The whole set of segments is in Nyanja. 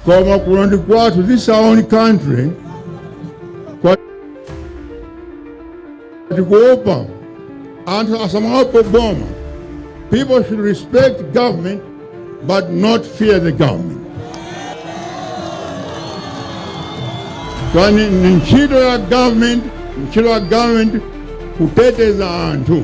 koma kuno ndi kwathu this is our own country koma tikuopa anthu asamaope boma people should respect government but not fear the government kani ni ntchito ya government ntchito ya government kuteteza anthu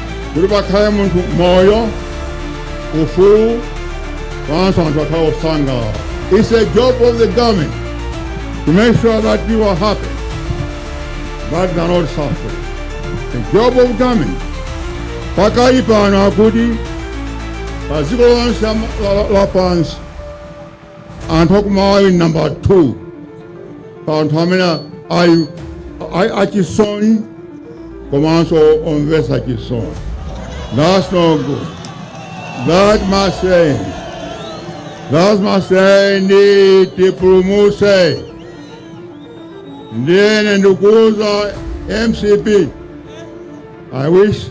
kuti pakhale mu mtendere ndi ufulu komanso anthu akhale osangalala it's a job of the government to make sure that people are happy but they are not suffering the job of government pakali pano akuti pa dziko lonse la- la- lapansi Anthu aku Malawi ndi nambala 2 pa anthu amene ali a- achisoni komanso omvetsa chisoni. That's no good. That must end. That must end. Tipulumuse. Ndiye ndikuuza MCP I wish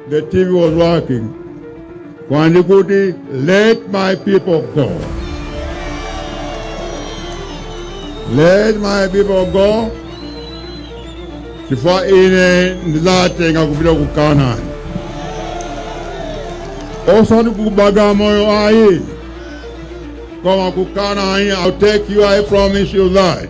the TV was working. Kwa ndi kuti let my people go. Let my people go. Chifukwa ine ndizatenga kupita ku Kanani. Osati ku Bagamoyo ayi. Koma ku Kanani I'll take you I promise you that.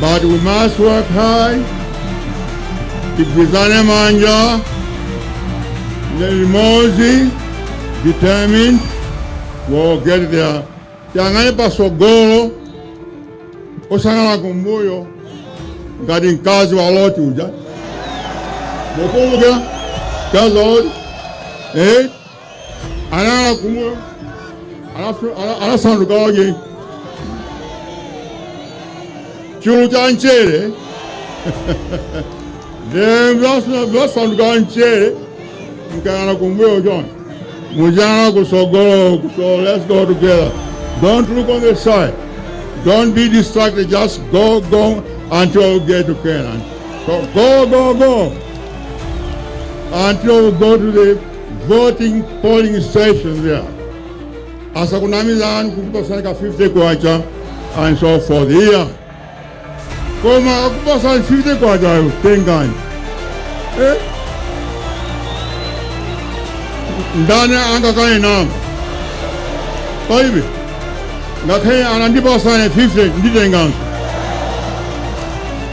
But we must work hard, tigwirane manja, limodzi, determined, we'll get there. Tiyang'ane pasogolo, osayang'ana kumbuyo, ngati mkazi wa Loti uja. Mukumbuka mkazi wa Loti? Eh? anayala kumwa alafu- ala- alasanduka wake chulu cha mchere then blas- blasanduka mchere mkayala kumbuyo chona mujana kusogolo so let's go together don't look on the side don't be distracted just go go until you get to canaan so go go go until you go to the voting polling stations there asakunamizeni kukupasani ka 50 kwacha and so forth here koma akupasani 50 kwachayo tengani eh? ndani angakane ndalama palibe ngakhale atandipasa ine 50 nditenganso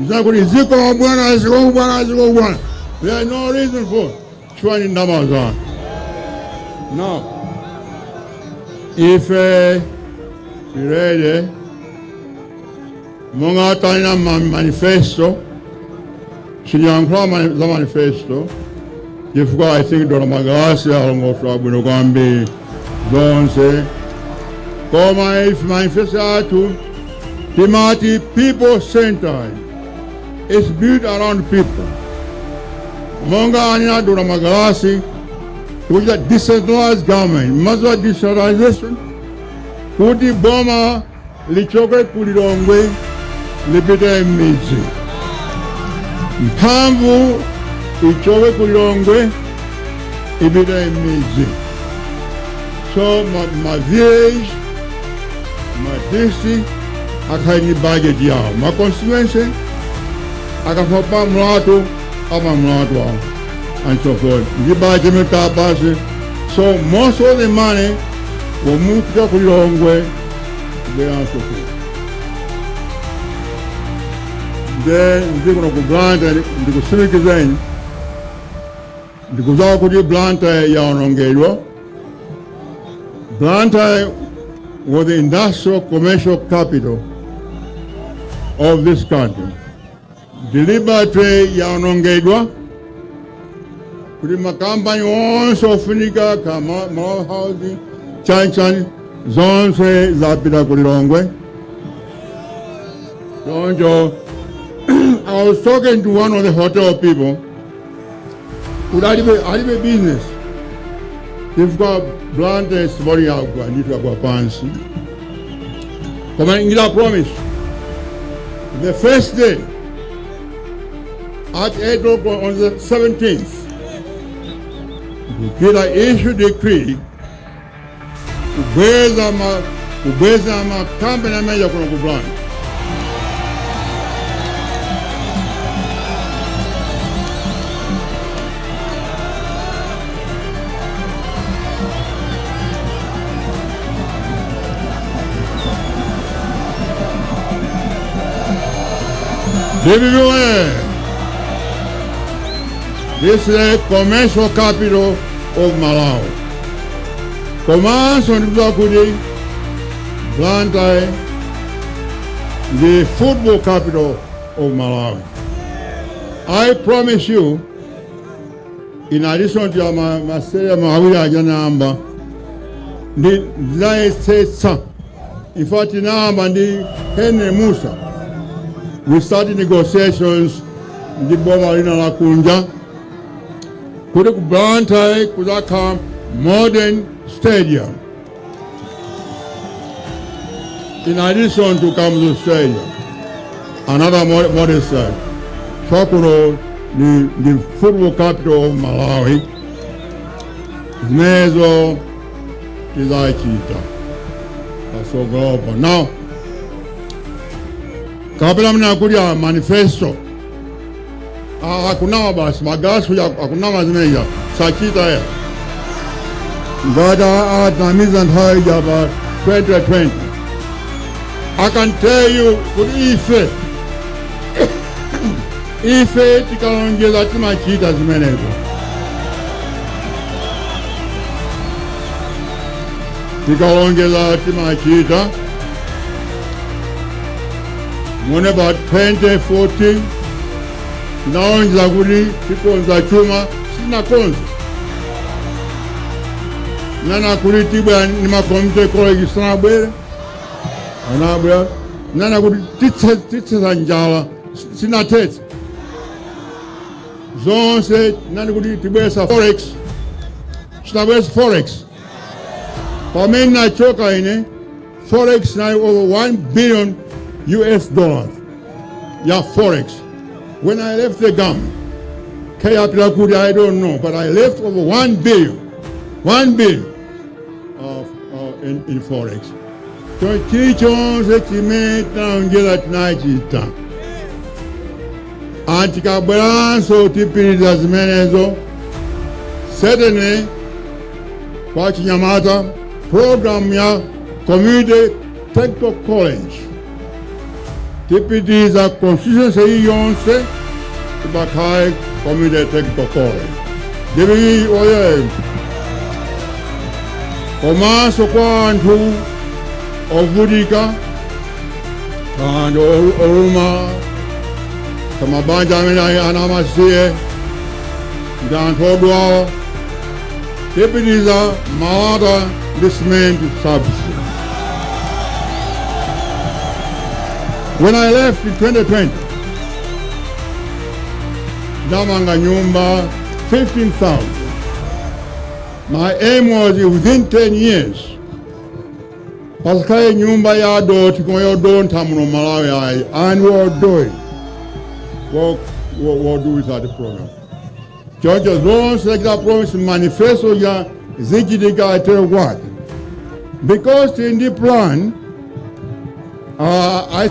nzakuti zikomo bwana zikomo bwana zikomo bwana there's no reason for chifukwa ndi ndalama zanu no ife tirede monga tanena ma- manifesto sitiyankhula mani- za manifesto chifukwa i think Dr Magalasi alongosola bwino kwambiri zonse koma ife manifesto athu timati people centered is built around people monga anena Dr Magalasi kuja decentralized government maziwa decentralization kuti boma lichoke ku Lilongwe lipite m'midzi, mphamvu ichoke ku Lilongwe ipite m'midzi. So ma, ma village ma district akhale ndi budget yawo, ma constituency akafuna pa mlatho amange mlatho awo and so forth. Ndi budget imene tiapatse. So most of the money will move out ku Lilongwe kubweranso ku nde ndikuno ku blantyre ndikutsimikizeni ndikudziwa kuti blantyre yaonongedwa blantyre was the industrial commercial capital of this country Deliberately yaonongedwa kuti makampani onse ofunika ka ma- Malawi Housing chanichani zonse zapita ku Lilongwe. Choncho I was talking to one of the hotel people kuti alibe alibe business chifukwa blantyre tsopano yagwa ndithu yagwa pansi koma ine I promise the first day at 8 o'clock on the 17th I'll issue decree kubweza ma kubweza makampani amene akuno ku Blantyre DPP oye! This is the commercial capital of Malawi. komanso ndikudziwa kuti blantyre ndi football capital of malawi i promise you in addition to ma, ma stadium awiri aja namba ndi ndinayesetsa in fact namba ndi henry mussa we started negotiations ndi boma lina la kunja kuti ku blantyre kuzakhala modern stadium in addition to kamuzu stadium another mo- modern stadium chakuno ndi, ndi football capital of malawi zimenezo tizachita pasogolopo now kapena munganene kuti a manifesto Ah, akunama basi magasu ya akunama zimenezo sachita ayi ngati atinamiza nthawi ya pa 2020 I can tell you kuti ife ife tikalonjeza timachita zimenezo tikalonjeza timachita Mu about 2014 ndinalonjeza kuti tikonza chuma sindinakonze ndinanena kuti tibwera ndi ma community college sanabwere anabwera ndinanena kuti tithe tithetsa njala sindinathetse zonse ndinanena kuti tibweretsa forex sindinabweretse forex pamene ndinachoka ine Forex inali over 1 billion US dollars ya forex. When I left the government, kaya yapita kuti I don't know, but I left over 1 billion, 1 billion of, of in, in forex. So chilichonse chimene tinalonjeza tinachita and tikabweranso tipitiriza zimenezo certainly kwa achinyamata Programu ya Community Technical College tipitiriza constituency iliyonse pakhale Community Technical College DPP woyee komanso kwa anthu ovutika anthu olu- olumala mabanja amene ali ana amasiye ndi anthu odwala tipitiriza malata ndi cement subsidy. When I left in 2020, ndinamanga nyumba 15,000. My aim was within 10 years pasakhale nyumba ya dothi komanso yodontha muno Malawi ayi and we'll do it. We'll, we'll, we'll do with that program. Choncho zonse tachita promise mu manifestoyi zichitika adzero kwake because in the plan uh, I